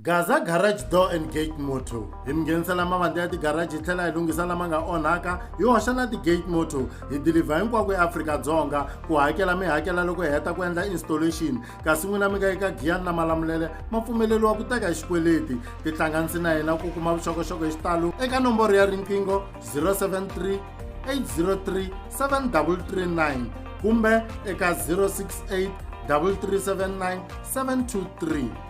Gaza Garage Door and Gate Motor hi mi nghenisela mavandla ya tigaraji hi tlhela hi lunghisa lama nga onhaka hi hoxa na ti-gate motor hi dilivha hinkwako eAfrika-Dzonga ku hakela mi hakela loko hi heta ku endla installation kasi n'wina mi nga eka giyani na malamulele ma pfumeleriwa ku teka hi xikweleti tihlanganisi na hina ku kuma vuxokoxoko hi xitalo eka nomboro ya riqingho 073 803 7339 kumbe eka 068 3379 723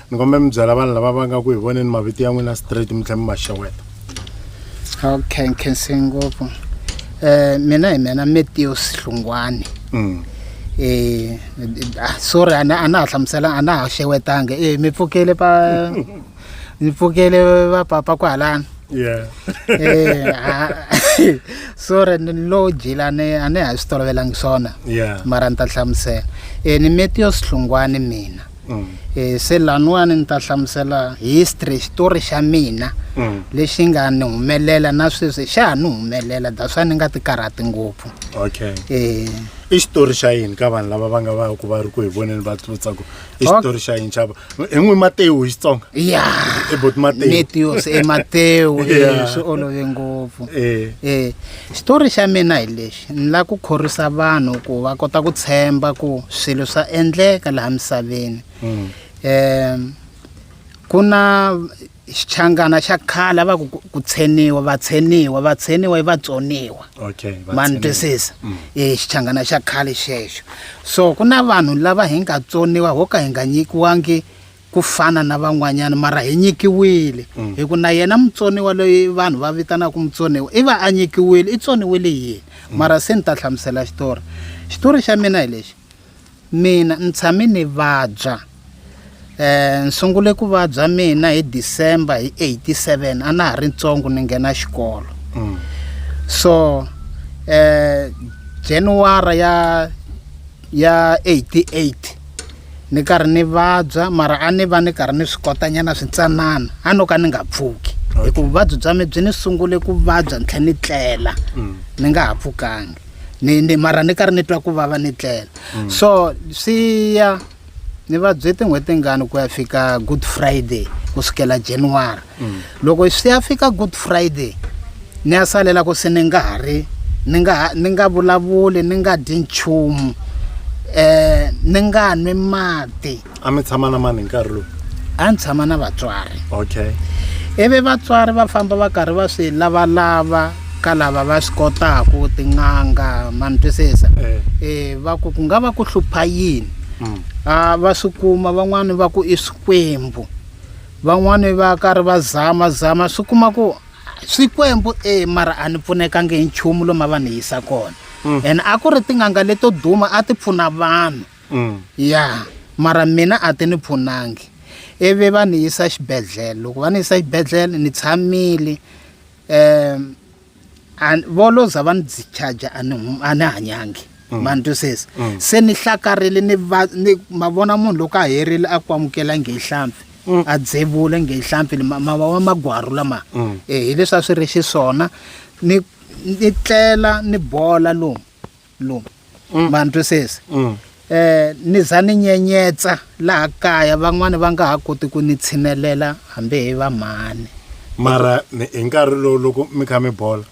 ni kombela mi byela vanhu lava va nga ku hi voneni mavito ya n'wina straight mi tlhela mi ma xeweta okay nkhense ngopfu eh mina hi mina Matthew Sihlungwani mm. eh ah, sorry ana ana ha hlamusela ana ha xewetanga eh mi pfukele pa ni pfukele va papa kwalana yeah eh ah, sorry ni lo jilane ane ha swi tolovelangi swona yeah mara ni ta hlamusela eh ni Matthew Sihlungwani mina mm. e, se laniwani ni ta hlamusela history xitori xa mina mm. lexi nga ni humelela na sweswi xa ha ni humelela daswa ni nga ti karhati ngopfu okay e, i xitori xa yini ka vanhu lava va nga va ku va ri ku hi voneni va tlutsako i xitori xa yini xava i n'wi matewu hi xitsonga ya ebot matewu netios e matewu e, swi olove ngopfu e xitori xa mina hi lexi Ni lava ku khorwisa vanhu ku va kota ku tshemba ku swilo swa endleka laha misaveni. Mm. Eh ku na xichangana xa khale va ku ku tsheniwa vatsheniwa vatsheniwa i vatsoniwa okay ma ni twisisa mm. i xichangana xa khale xexo so ku na vanhu lava hi nga tsoniwa ho ka hi nga nyikiwangi ku fana na van'wanyana mara hi nyikiwile mm. hi ku na yena mutsoniwa loyi vanhu va vitanaka mutsoniwa i va a nyikiwile i tsoniwile yini mm. mara se ni ta hlamusela xitori xitori xa mina hi lexi mina ni tshame ni vabya um ni sungule ku vabya mina hi december hi eighty seven a na ha ri ntsongo ni nghena xikolo mm. so um january ya ya 88 ni karhi ni vabya mara a ni va ni karhi ni swi kotanyana swintsanana a no ka ni nga pfuki hikuva vuvabyi bya mi byi ni sungule ku vabya ni tlhe ni tlela mm. ni nga ha pfukangi ni ni mara ni karhi ni twa ku vava ni tlela mm. so swi ya ni vabye tin'hweti tingani ku ya fika good friday ku sukela january mm. loko swi ya fika good friday ni ya salela ku se ni nga ha ri ni nga ni nga vulavuli ni nga dyi nchumu um ni nga nwi mati a mi tshama na mani hi nkarhi lowu a ni tshama na vatswari okay ivi vatswari va famba va karhi va swi lavalava ka lava va swi kotaku tin'anga ma ni twisisa um eh. eh, va ku ku nga va ku hlupha yini mm. a va swi kuma van'wani va ku i swikwembu van'wani va karhi va zama zama swi kuma ku swikwembu e mara a ni pfunekangi hi nchumu lomu a va ni yisa kona mm. and a ku ri tin'anga leto duma a ti pfuna vanhu mm. ya mara mina a ti ni pfunangi ivi va ni yisa xibedhlele loko va ni yisa xibedhlele ni tshamile um An- volo za va ni dzi charger a ni hum- a ni hanyangi Mm. ma ni twisisa Mm. se ni hlakarile ni va ni ma vona munhu loko a herile a ku amukela nge hlampfi Mm. a dzevula nge hlampfi ni ma- ma ma- magwaru lama Mm. Eh, hi leswi a swi ri xiswona ni ni tlela ni bola lomu lomu mm. ma ni twisisi mm. eh ni za ni nyenyetsa laha kaya van'wani va nga ha koti ku ni tshinelela hambi hi va mhani mara hi nkarhi lowu loko mi kha mi bola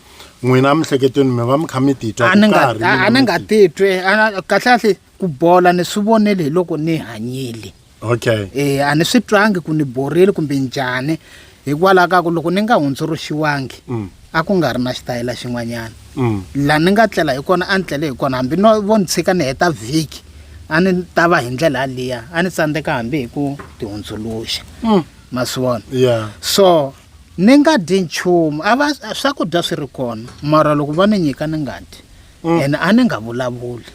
n'wina mihleketweni mi va mi kha mi titwa a ni nga a ni nga titwi kahle kahle ku bola ni swi vonele hi loko ni hanyile okay e a ni swi twangi ku ni borile kumbe njhani hikwalaho ka ku loko ni nga hundzuluxiwangi mm. a ku nga ri na xitayela xin'wanyana mm. laha ni nga tlela hi kona a ni tlele hi kona hambi no vo ni tshika ni heta vhiki a ni ta va hi ndlela yaliya a ni tsandzeka hambi hi ku tihundzuluxa mm. ma swi vona so ni nga dyi nchumu a va swakudya swi ri kona mara loko va ni nyika ni nga dyi Mm. ene a ni nga vulavuli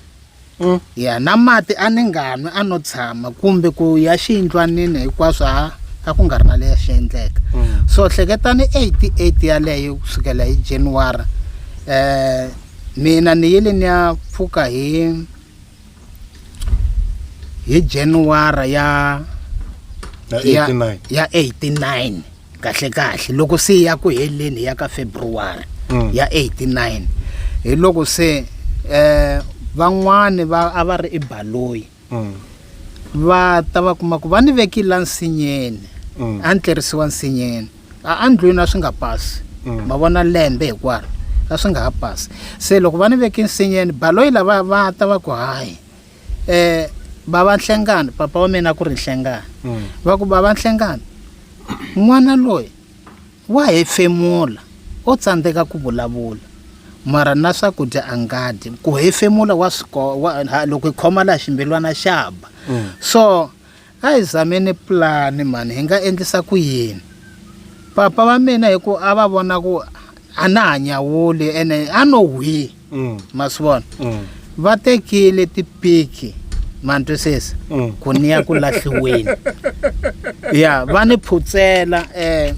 Mm. ya na mati a ni nga nwi a no tshama kumbe ku ya xiyindlwanini hinkwaswo a a ku nga ri na leyi xi endleka Mm. so hleketani 88 yaleyo ku sukela hi january um mina ni yile ni ya pfuka hi hi january ya Ya ya 89. ya 89 kahlekahle loko se ya ku heleni ya ka february mm. ya 89 hi loko se eh van'wani va a va ri ebaloyi mm. va ta va kuma ku va ni vekile nsinyeni mm. a ni tlerisiwa nsinyeni a a ndlwini a swi nga pasi mm. ma vona lembe hinkwaro a swi nga ha pasi se loko va ni veke nsinyeni baloyi lava va ta va ku hayi eh bava nhlengani papa wa mina ku ri nhlengani mm. va ku bava nhlengani n'wana loyi wa hefemula o tsandzeka ku vulavula mara na swakudya a nga dyi ku hefemula wa swi loko hi khoma laha ximbilwana xa ba mm. so A hi zameni pulani mhani, hi nga endlisa ku yini? Papa va mina hi ku a va vona ku a na ha nyawuli ene a no hwi mm. ma swi vona mm. va tekile tipiki ma ni twisisa mm. ku ni ya ku lahliweni ya va ni phutsela um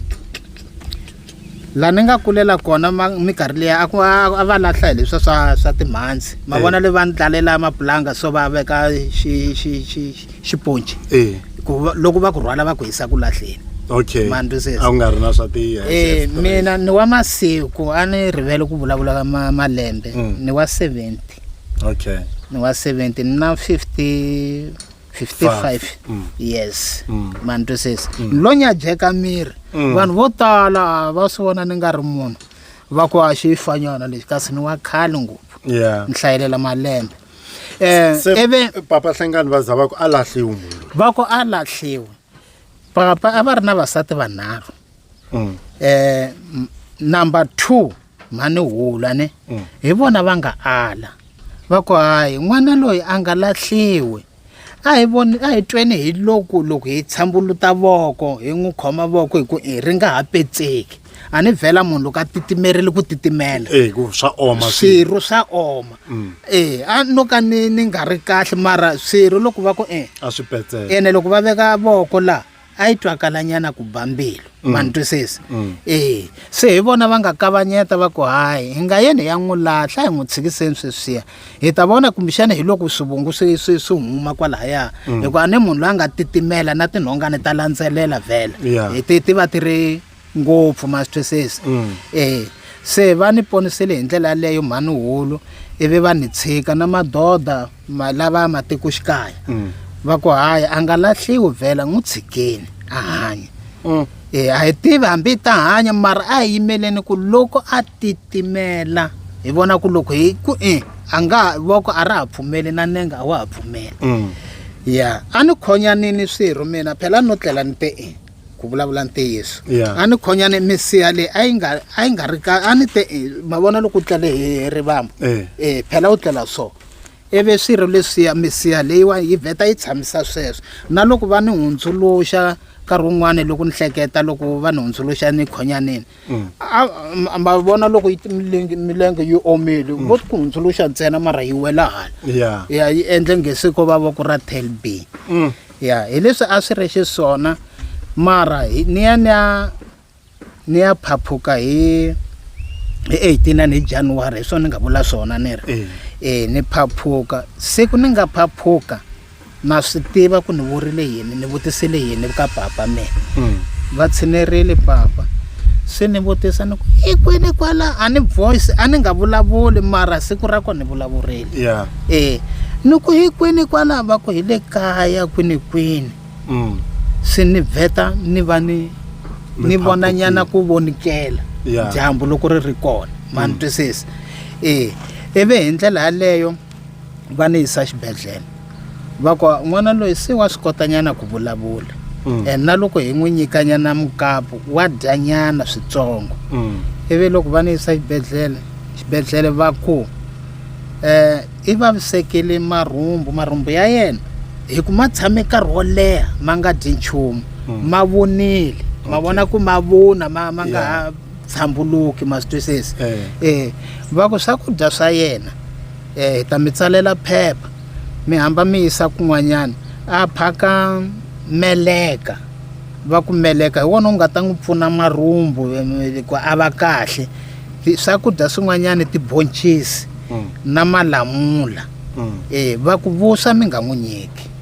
laha ni nga kulela kona minkarhi leyi a ku a va lahla hi leswa swa swa timhandzi ma vona eh. le va ni tlalela mapulanga so va veka xiponci eh. loko va ku rhwala va ku hisa ku lahleni okay a ku nga ri na swa tiya eh, mina ni wa masiku a ni rivele ku vulavula ka malembe mm. ni wa seventy okay ni wa seventy ni na fifty 55 Mm. yes Mm. ma ni twisisa ni lo nyajeka miri Mm. vanhu vo tala a va swi vona ni nga ri munhu va ku a xi fanyana lexi kasi ni wa khale ngopfu yeah ni hlayelela malembe um se ivi papa hlengani va za va ku a lahliwi munhu va ku a lahliwe papa a va ri na vasati vanharhu Mm. um number two mhani hula ne mm. hi vona va nga ala va ku hayi n'wana loyi a nga lahliwi a hi voni a hi tweni hi loku loko hi tshambuluta voko hi n'wi khoma voko hi ku i ri nga ha petseki a ni vhela munhu loko a titimerile ku titimela eh, swa oma swirho swa oma mm. e a no ka ni ni nga ri kahle mara swirho loko va ku e a swi petseka ene loko va veka voko laha a yi twakalanyana ku ba mbilu mm. ma ni twisisa mm. e se hi vona va nga kavanyeta va ku hayi hi nga yeni hi ya n'wi lahla hi n'wi tshikiseni sweswiya hi ta vona kumbexana hi loko swivungu swi swi swi huma kwalahaya mm. hikuva ni munhu loyi a nga titimela na tinhongani ta landzelela vhela ti ti va ti ri ngopfu ma swi twisisa um se va ni ponisile hi ndlela yaleyo mhani hulu ivi va ni tshika na madoda lava ya matikoxikaya mm. va ku hayi a nga lahliwi vhela n'wi tshikeni a hanya um e a hi tivi hambi ta hanya mara a hi yimeleni ku loko a titimela hi vona ku loko hi ku e a nga voko a ra ha pfumeli na nenge a wa ha pfumeli mm. ya a ni khonyanini swirho mina phela no tlela ni te e ku vulavula ntiyiso Yeah. a ni khonyane misiha leyi a yi nga a yi nga ri ka a ni te eh, ma vona loko u tlele hi rivambo Eh. eh phela u tlela so ivi swirho leswiya misiha leyiwa yi vheta yi tshamisa sweswo na loko va ni hundzuluxa nkarhi wun'wani loko ni hleketa loko va ni hundzuluxa ni khonyanini mm. a ma vona loko yi milenge milenge yi omile mm. vo ku hundzuluxa ntsena mara yi wela hala ya ya yi endle ngesiko va va ku ra tel b mm. ya hi leswi a swi ri xiswona mara ni ya ni ya ni ya phaphuka hi hi eighteen and hi january hi swona ni nga vula swona ni ri eh. eh ni phaphuka siku ni nga phaphuka na swi tiva ku ni vurile yini ni vutisile yini ka papa mina mm. va tshinerile papa se ni vutisa ni ku i kwini kwala a ni voice a ni nga vulavuli mara siku ra ko ni vulavurile yeah. e ni ku hi kwini kwala va ku hi le kaya kwini kwini mm. se ni vheta ni va ni ni vona nyana ku vonikela yeah. dyambu loko ri ri kona ma ni mm. twisisa e ivi hi ndlela yaleyo va ni yisa xibedhlele va ku n'wana loyi se wa swi kotanyana ku vulavula mm. and na loko hi n'wi nyikanyana mukapu wa dyanyana switsongo mm. ivi loko va ni yisa xibedhlele xibedhlele va ku um eh, i vavisekile marhumbu marhumbu ya yena hi ku ma tshame nkarhi wo leha ma nga dyi nchumu mm. ma vonile ma vona ku ma vona ma ma nga ha tshambuluki ma swi twisisa um eh. eh, va ku swakudya swa yena um hi ta mi tsalela phepha mi hamba mi yisa kun'wanyana a phaka meleka va ku meleka hi wona u nga ta n'wi pfuna marhumbu ku a va kahle swakudya swin'wanyana tibonchisi mm. na malamula um va ku vuswa mi nga n'wi nyiki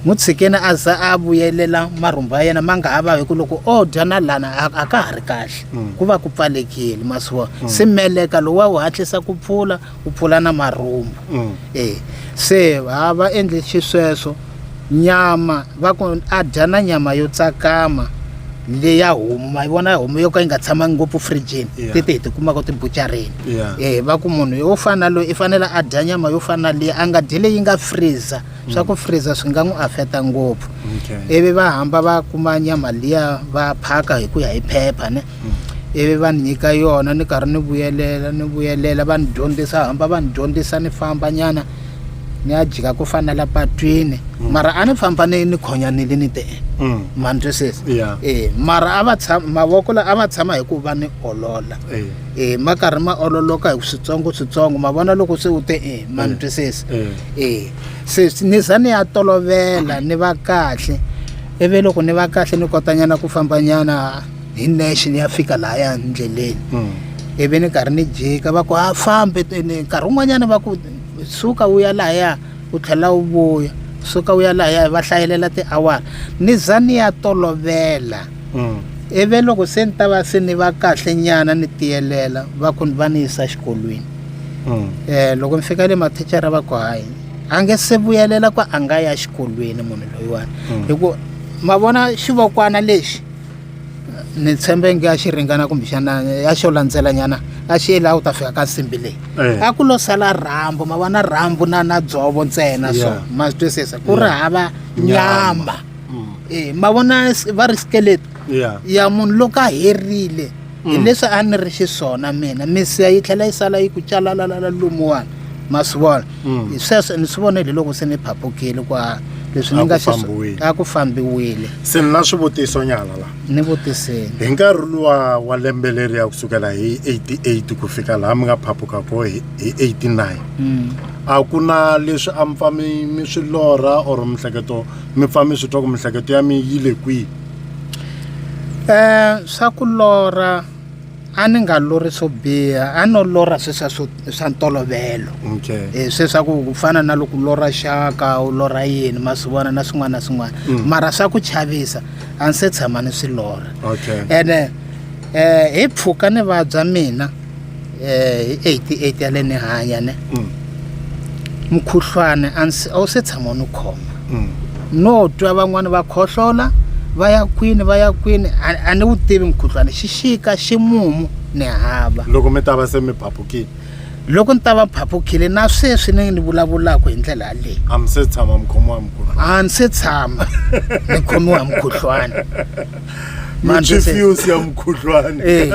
n'wi tshikeni a za a vuyelela marhumbu ya yena ma nga ha va hi ku loko o dya na lana a ka ha ri kahle mm. ku va ku pfalekile masiwa mm. se meleka lowu wa wu hatlisa ku pfula u pfula na marhumbu mm. e se ha va endle xisweswo nyama va ku a dya na nyama yo tsakama leyi ya homu ma yi vona homu yo ka yi nga tshamangi ngopfu fridgini yeah. tete hi tikumaka tibucareni yeah. eh, va ku munhu yo fana loyi i fanele a dya nyama yo fana leyi a nga dyi leyi nga freezer mm. swa ku freezer swi nga n'wi afeta ngopfu okay. ivi va hamba va kuma nyama liya va phaka hi ku ya hi phepha ne mm. ivi va ni nyika yona ni karhi ni vuyelela ni vuyelela va ni dyondzisa hamba va ni dyondzisa ni famba nyana ni ya jika ku fana la patwini mm. mara a ni famba ni ni khonyanile ni te mm. ma ni twisisa yeah. e mara a va tshama mavoko la a va tshama hi ku va ni olola e eh. e eh, ma karhi ma ololoka hi switsongo switsongo ma vona loko se u te e ma ni eh. twisisa e se ni za ni ya tolovela ni va kahle ivi loko ni va kahle ni kotanyana ku fambanyana hi nexe ni ya fika lahaya ndleleni hmm. ivi ni karhi ni jika va ku a fambe teni nkarhi wun'wanyana va ku suka wu ya lahaya u tlhela wu vuya suka wu ya lahaya va hlayelela tiawara ni za ni ya tolovela hmm. ivi loko se ni ta va se ni va kahle nyana ni tiyelela va ku va ni yisa xikolweni um loko ni fika le mathicara va ku hayi a nge se vuyelela ku a nga ya xikolweni munhu loyiwani hikuva ma vona xivokwana lexi ni tshembe nge a xi ringana kumbexana a xo landzelanyana a xi yele a wu ta fika ka nsimbi leyi eh. a ku lo sala rhambu ma vona rhambu na na dzovo ntsena so ma swi twisisa ku ri hava nyama mm. e ma vona va ri skeleti ya munhu loko a herile mm. hi leswi a ni ri xiswona mina misiya yi tlhela yi sala yi ku calalalala lomuwani ma swi vona mm. hi sweswo ni swi vonile loko se ni phapukile kwa leswi ni nga a ku fambiwile se ni na swivutiso nyana la ni vutiseni hi nkarhi luwa wa lembe leri ya kusukela hi 88 ku fika laha mi nga phapuka ko hi 89 mm. a ku na leswi a mi pfa mi swi lorha or mihleketo mi pfa mi swi twa ku mihleketo ya mi yi le kwihi swa ku lorha a ni nga lorhi swo biha a no lorha sweswiya swo swa ntolovelo okay um sweswaku ku fana na loko u lorha xaka u lorha yini ma swi vona na swin'wana na swin'wana Mm. mara swa ku chavisa a ni se tshama ni swi lorha okay ene um hi pfuka ni vabya mina eh hi 88 ya le ni hanya ne mm. mukhuhlwana a wu se tshama ni khoma mm. no twa van'wani va khohlola va ya kwini va ya kwini a ni wu tivi mukhuhlwana xixika ximumu ni hava loko mi ta va se mi phapukile loko ni ta va phapukile na sweswi ni ni vulavulaka hi ndlela yaleyi a mi se tshama mi khomiwa mukhuhlwana a ni se tshama ni khomiwa mukhuhlwana machifuse ya mukhuhlwana eh,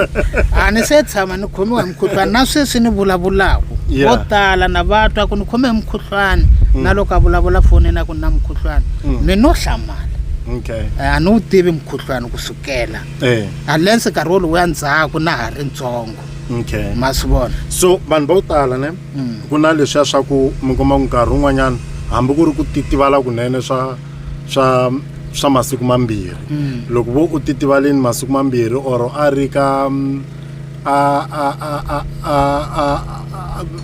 a ni se tshama ni khomiwa hi mukhuhlwana na sweswi ni vulavulaka Yeah. vo tala na va twa ku ni khome hi mukhuhlwana Mm. na loko a vulavula foni na ku ni na mukhuhlwana Mm. mi no hlamala okay Eh, a ni wu tivi mukhuhlwana ku sukela eh unless nkarhi wolowo ya ndzhaku na ha ri ntsongo okay ma swi vona so vanhu vo tala ne Mm. ku na leswiya swa ku mi kuma ku nkarhi wun'wanyana hambi ku ri ku titivala kunene swa swa swa masiku mambirhi mm. loko vo u titivaleni masiku mambirhi or a ri ka mm, a a a a a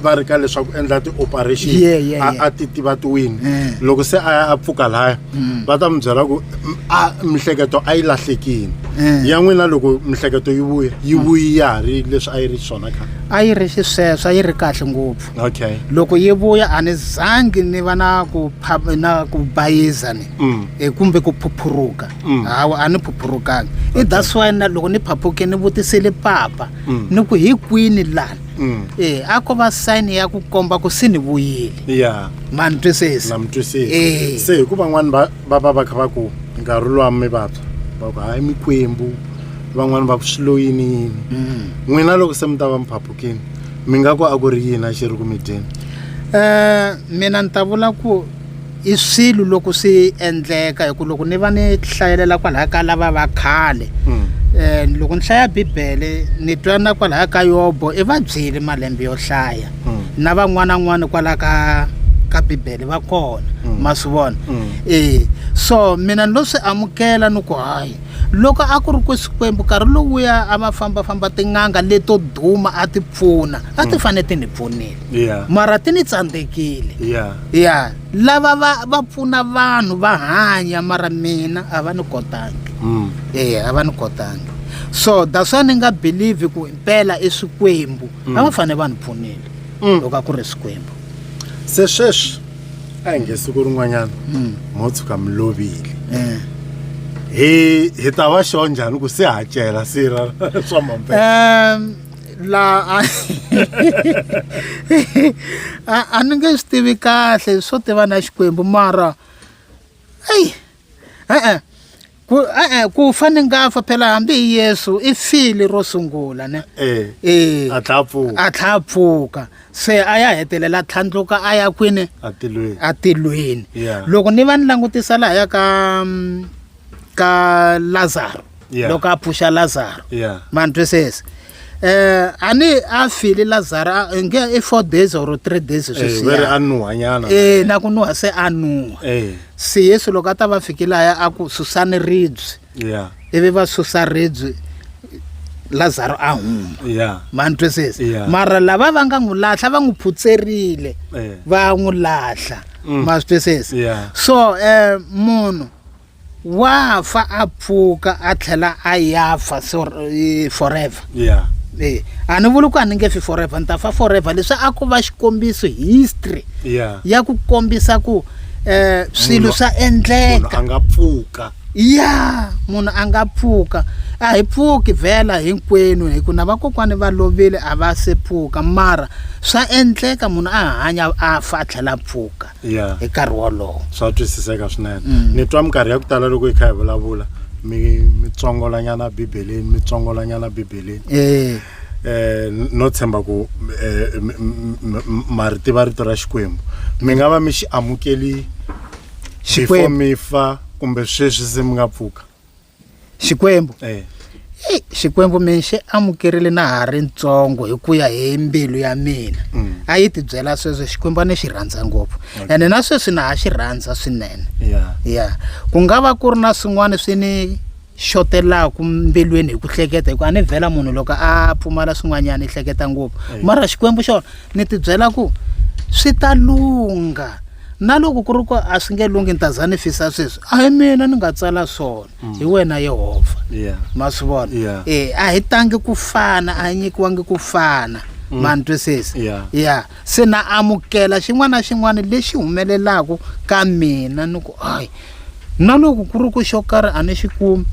va ri ka leswaku endla ti-operation yeah, yeah, yeah. a ti tiva tiwini yeah. loko se a a pfuka laya mm. va ta mi byela ku a mihleketo a yi lahlekini yeah. ya n'wina loko mihleketo yi vuya yi mm. vuyi ya ha ri leswi a yi ri swona khale a yi ri xisweswo a yi ri kahle ngopfu okay loko yi vuya a ni zangi ni va na ku na ku bayiza ni mm. e, kumbe ku phuphuruka mm. hawa a ni phuphurukangi i that's why na loko ni phaphuke ni vutisile papa mm. ni ku hi kwini lana mm. e a ko va sign ya ku komba ku se ni vuyile ya ma ni twisisi na mi twisisi e. se hikuva n'wani va va va va kha va ku nkarhi lowa mi vabya va ku hayi mikwembu van'wani va ku swi loyini yini mm. n'wina loko se mi ta va mi phaphukini mi nga ku a ku ri yini a xi ri ku mi dyeni um mina ni ta vula ku i swilo loko swi endleka hi ku loko ni va ni hlayelela kwalaya ka lava va khale um loko ni hlaya bibele ni twa na kwalaya ka yobo i va byeli malembe yo hlaya hmm. na van'wana n'wana kwalaya ka ka bibele va kona hmm. ma swi vona e so mina ni lo swi amukela ni ku hayi loko a ku ri ku xikwembu nkarhi lowuya a va fambafamba tin'anga leto duma a ti pfuna a ti mm. fanele ti ni pfunile yeah. mara ti ni tsandzekile yeah. yeah. lava va va pfuna vanhu va hanya mara mina a va ni kotangi mm. e a va ni kotangi so that's why ni nga believe ku impela i swikwembu mm. a va mm. fanele va ni pfunile mm. loko a ku ri swikwembu se sweswi a hi nge siku rin'wanyana hmm. mo tshuka mi lovile eh. hi hi ta va xo njhani ku se hacela sira swa mambe laha a ni nge swi tivi kahle swo tiva na xikwembu mara eyi E-e, ku e-e ku fa ni nga fa phela hambi hi yesu i fili ro sungula ne Eh, e a tlha a pfuka a tlha a pfuka se a ya hetelela a tlhandluka a ya kwini atilweni atilweni Yeah. loko ni va ni langutisa laha ya ka mm, ka lazaro Yeah. loko a pfuxa lazaro Yeah. ma ni twisisa um a ni a file lazaro a- i nge i four days or three days Eh, sweswiya. veri a nuhanyana Eh, na ku nuha se a nuha Eh, se yesu loko a ta va fike laya a ku susani ribye yeah, ivi va susa ribye lazaro a huma yeah, ma ni twisisa Yeah. mara lava va nga n'wi lahla va n'wi phutserile eh, va n'wi lahla Mm. ma swi twisisa yeah, so um munhu wa fa a pfuka a tlhela a ya fa e, forever yeah e a ni vuli ku a ni nge fi forever ni ta fa forever leswi a ku va xikombiso history yeah ya ku kombisa ku eh swilo swa endleka a nga pfuka ya munhu a nga pfuka a hi pfuki vhela hinkwenu hi ku na vakokwani va lovile a va se pfuka mara swa endleka munhu a hanya a fa a tlhela a pfuka Yeah. hi nkarhi wolowo swa twisiseka swinene ni twa minkarhi ya ku tala loko hi kha hi vulavula mi mi tsongolanyana bibeleni mi tsongolanyana bibeleni Eh, eh n- no tshemba ku eh, m- m- m- ma ri tiva rito ra xikwembu mi nga va mi xi amukeli before Xikwembu. mi fa kumbe sweswi se mi nga pfuka xikwembu eh. Hey, xikwembu mina xi amukerile na ha ri ntsongo hi ku ya hi mbilu ya mina mm. a yi ti byela sweswo xikwembu a ni xi rhandza ngopfu ene na sweswi na ha xi rhandza swinene ya ku nga va ku ri na swin'wana swi ni xotelaka mbilwini hi ku hleketa hikuva a ni vhela munhu loko a pfumala swin'wanyana i hleketa ngopfu mara xikwembu xona ni ti byela ku swi ta lungha na loko ku ri ku a swi nge lunghi ni ta za ni fisa sweswi a hi mina ni nga tsala swona mm. hi wena yehovha ma swi vona e a hi tangi ku fana a hi nyikiwangi ku fana mm. ma ni twisisi ya se na amukela xin'wana na xin'wana lexi humelelaka ka mina ni ku hayi na loko ku ri ku xo karhi a ni xi kumi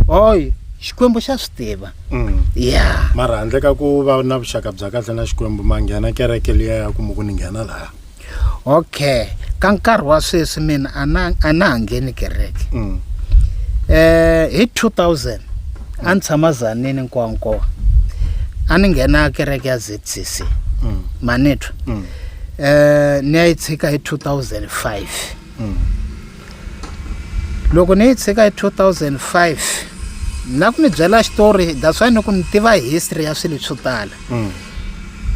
hoyi xikwembu xa swi tiva mm. ya mara handle ka ku va na vuxaka bya kahle na xikwembu ma nghena kereke liya ya ku mi ku ni nghena laha okay ka nkarhi wa sweswi mina a na a na ha ngheni kereke mm. eh hi 2000 a ni tshama zanini nkwankowa a ni nghena kereke ya zcc mm. manitwa mm. eh ni ya yi tshika hi 2005 mm. loko ni yi tshika hi 2005 na ku mi byela xitori that's why ni ku ni tiva history ya swilo swo tala mm.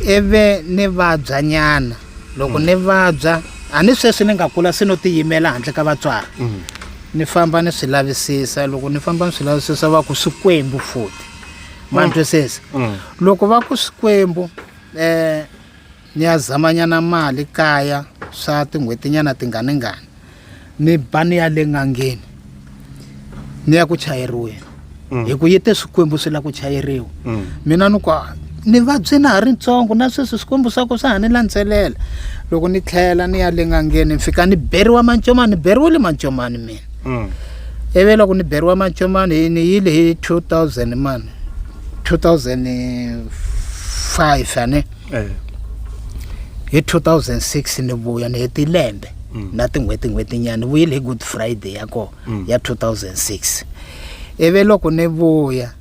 ivi ni vabya nyana loko mm. ni vabya a ni sweswi ni nga kula se no tiyimela handle ka vatswari mm. ni famba ni swi lavisisa loko ni famba ni swi lavisisa va ku swikwembu futi ma mm. twisisa mm. loko va ku swikwembu um ni ya zamanyana mali kaya swa tin'hwetinyana tinganingani ni ba ni ya le n'angeni ni ya ku chayeriweni mm. hi ku yi te swikwembu swi la ku chayeriwa mm. mina ni ku ni vabyi na ha ri ntsongo na sweswi swikwembu swa ku swa ha ni landzelela loko ni tlhela ni ya le n'angeni ni fika ni beriwa mancomani ni beriwile mancomani mina mm. ivi loko ni beriwa mancomani ni yile hi two thousand mani two thousand five ane eh. hi 2006 ni vuya ni heti lembe mm. na tin'hweti n'hweti nyana ni vuyile hi good friday ya kona mm. ya 2006 ivi loko ni vuya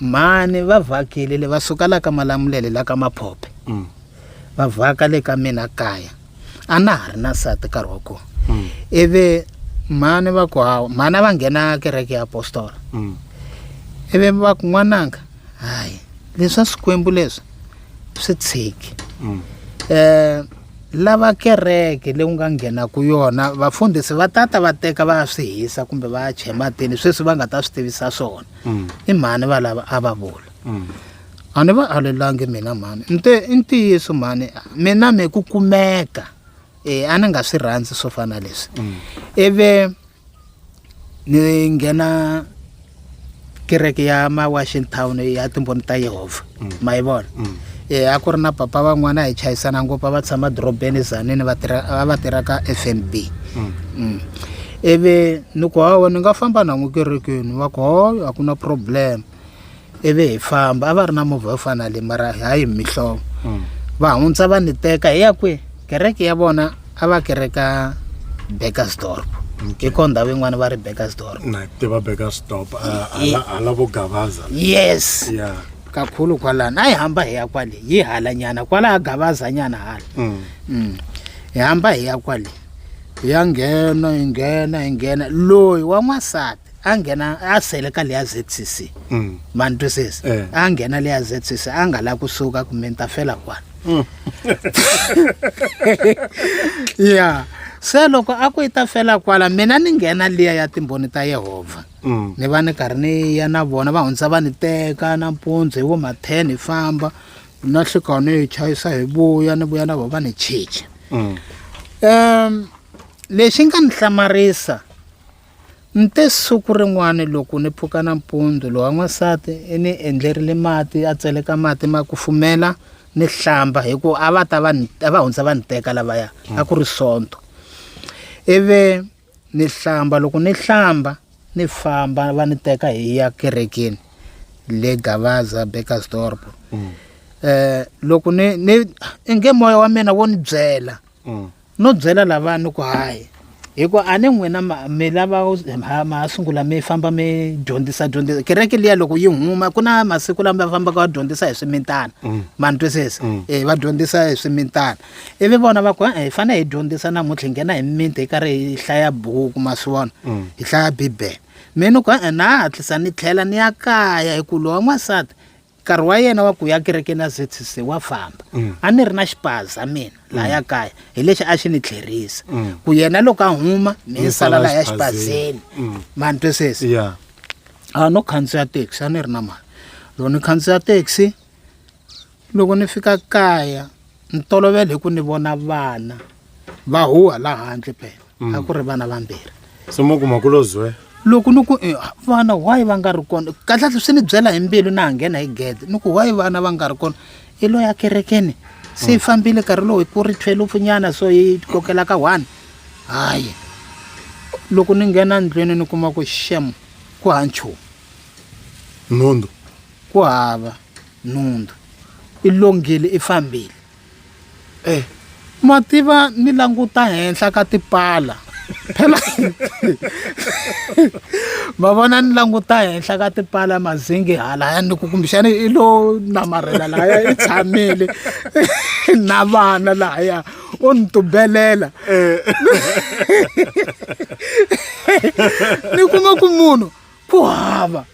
mhani va vhakile le va suka la ka malamulele la ka maphophe mm. va vhaka le ka mina kaya a na ha ri na sati nkarhi wa kona mm. ivi mhani va ku hawa mhani a va nghena kereke ya apostola mm. ivi va ku n'wananga hayi leswa swikwembu leswi swi tshiki um lava kereke leyi u nga nghenaka yona vafundhisi va tata va teka va ya swi hisa kumbe va ya chematini sweswi va nga ta swi tivisa swona i mhani valava a va vula mm. a ni va alelangi mina mhani ni te i ntiyiso mhani mina mi ku kumeka e a ni nga swi rhandzi swo fana leswi mm. ivi ni nghena kereke ya ma washington ya timboni ta yehovha mm. ma yi vona mm. e a ku ri na papa van'wana hi chayisana ngopfu a va tshama dorobeni zanini va va tirha ka f n b mm. ivi ni ku hawa ni nga famba na n'wi kerekeni va ku hoyo a ku na problem ivi hi famba a va ri na movha yo fana le mara hayi mihlovo mm. va hundza va ni teka hi ya kwihi kereke ya vona a va kereka beckersdorp hi ko ndhawu yin'wana va ri beckersdorp tiva beckersdorp hala vo gavaza yes kakhulu kwalani a yi hamba hi ya kwale yi hala nyana kwala ha gavaza nyana hala mm. Mm. hi hamba hi ya kwale hi ya nghena hi nghena hi nghena loyi wa n'wansati a nghena a sele ka leya zcc mm. ma ni twisisa eh. a nghena leya zcc a nga lavi kusuka kumbe ni ta fela kwala mm. ya se loko a ku yi ta fela kwala mina ni nghena liya ya timbhoni ta yehovha mm. ni va ni karhi ni ya na vona va hundza va ni teka nampundzu hi vo ma-ten hi famba na hlikawu ni yi chayisa hi vuya ni vuya na vona va ni chicha um lexi nga ni hlamarisa Nte siku rin'wana loko ni pfuka nampundzu lowa n'wansati i ni endlerile mati a tseleka mati ma kufumela ni hlamba hi ku a va ta va a va hundza va ni teka lavaya a ku ri sonto ivi ni hlamba loko ni hlamba ni famba va ni teka hi ya kerekeni le gavaza bakersdorp um loko ni ni inge moya wa mina wo ni byela mm. no byela lava ni ku hayi hikuva a ni n'wina mi lava ma sungula mi famba mi dyondzisa dyondzisa kereke liya loko yi huma ku na masiku lama va fambaka va dyondzisa hi swimitana mm. ma ni twisisa mm. e va dyondzisa hi swimitana ivi vona va ku hi fanele hi dyondzisa namuntlha hi nghena hi mimiti hi karhi hi hlaya buku ma swi vona mm. hi hlaya bibele mina ku na hatlisa ni tlhela ni ya kaya hi ku lowa n'wansati nkarhi wa yena wa ku ya kerekeni ya zcc wa famba mm. a ni ri na xipaza mina mm. laha ya kaya hi lexi a xi ni tlherisa mm. ku yena loko a huma mi ni sala laha ya xipazeni mani twisisi a ah, no khandziya taxi a ni ri na mali loko ni khandziya taxi loko ni fika kaya ni tolovele hi ku ni vona vana va huha laha handle phela mm. a ku ri vana vambirhi se mo kuma ku lozwe loko ni ku eh, vana why va nga ri kona kahlekahle swi ni byela hi mbilu na ha nghena hi gede ni ku why vana va nga ri kona i loyi akerekeni se yi mm. fambile nkarhi lowu hi ku ri thwelufu nyana so yi kokela ka one hayi loko ni nghena ndlwini ni kuma ku xem ku ha nchumu nhundzu ku hava nhundzu i longile i fambile e ma tiva ni languta henhla ka tipala phela ma vona ni languta henhla ka tipala mazingi hala ya ni ku kumbexana i lo namarhela lahaya i tshamile na vana lahaya u ni tubelela eh. ni kuma ku munhu ku hava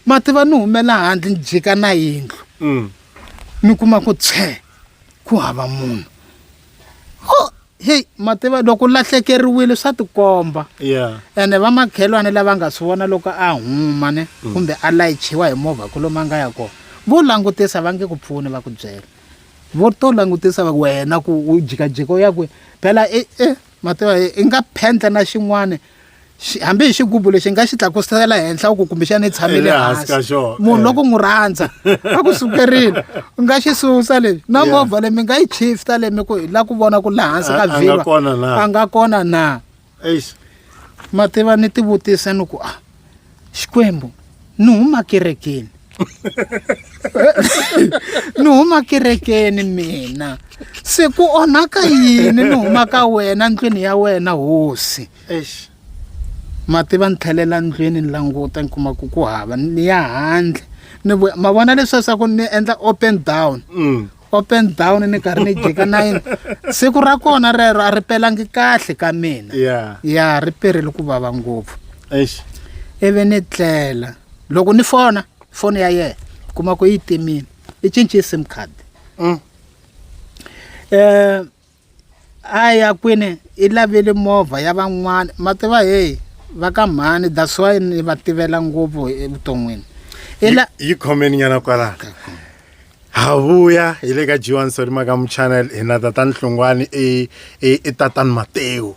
mati va ni humela handle ni jika na yindlu mm. ni kuma ku tshee ku hava munhu o heyi mativa loko lahlekeriwile swa tikomba ene va makhelwane lava nga swi vona loko a huma ne mm. kumbe a layichiwa hi movha ku lomu a nga ya kona vo langutisa va nge ku pfuni va ku byela vo to langutisa va wena ku u jikajika u ya kwihi phela e e mativa i nga phendla na xin'wana hambi hi xigubu lexi nga xi tlakusela henhla u ku kumbexana i tshamile hansi munhu eh. loko n'wi rhandza a ku sukerile u nga xi susa lexi na movha leyi mi nga yi chifta leyi mi ku hi la ku vona ku laha hansi ka vhilwa a nga kona na ma tiva ni tivutise ni ku a ah, xikwembu ni huma kerekeni ni huma kerekeni mina se ku onhaka yini ni huma ka wena ndlwini ya wena hosi mati va ni tlhelela ndlwini ni languta ni kuma ku ku hava ni ya handle ni ma vona leswiasaku ni endla open down mm. up and down ni karhi ni jika nine siku ra kona rero a ri pelangi kahle ka mina ya ya ri perile ku vava ngopfu eish ivi ni tlela loko ni fona foni ya yena kuma ku yi timile i cince sim card Mm. um a ya kwini i lavile movha ya van'wana ma tiva heyi va ka mhani that's why ni va tivela ngopfu evuton'wini yi khomeni nyana kwalana ha vuya hi le ka g1 solimaka muchannel hi na tatani hlongwani i tatani mateo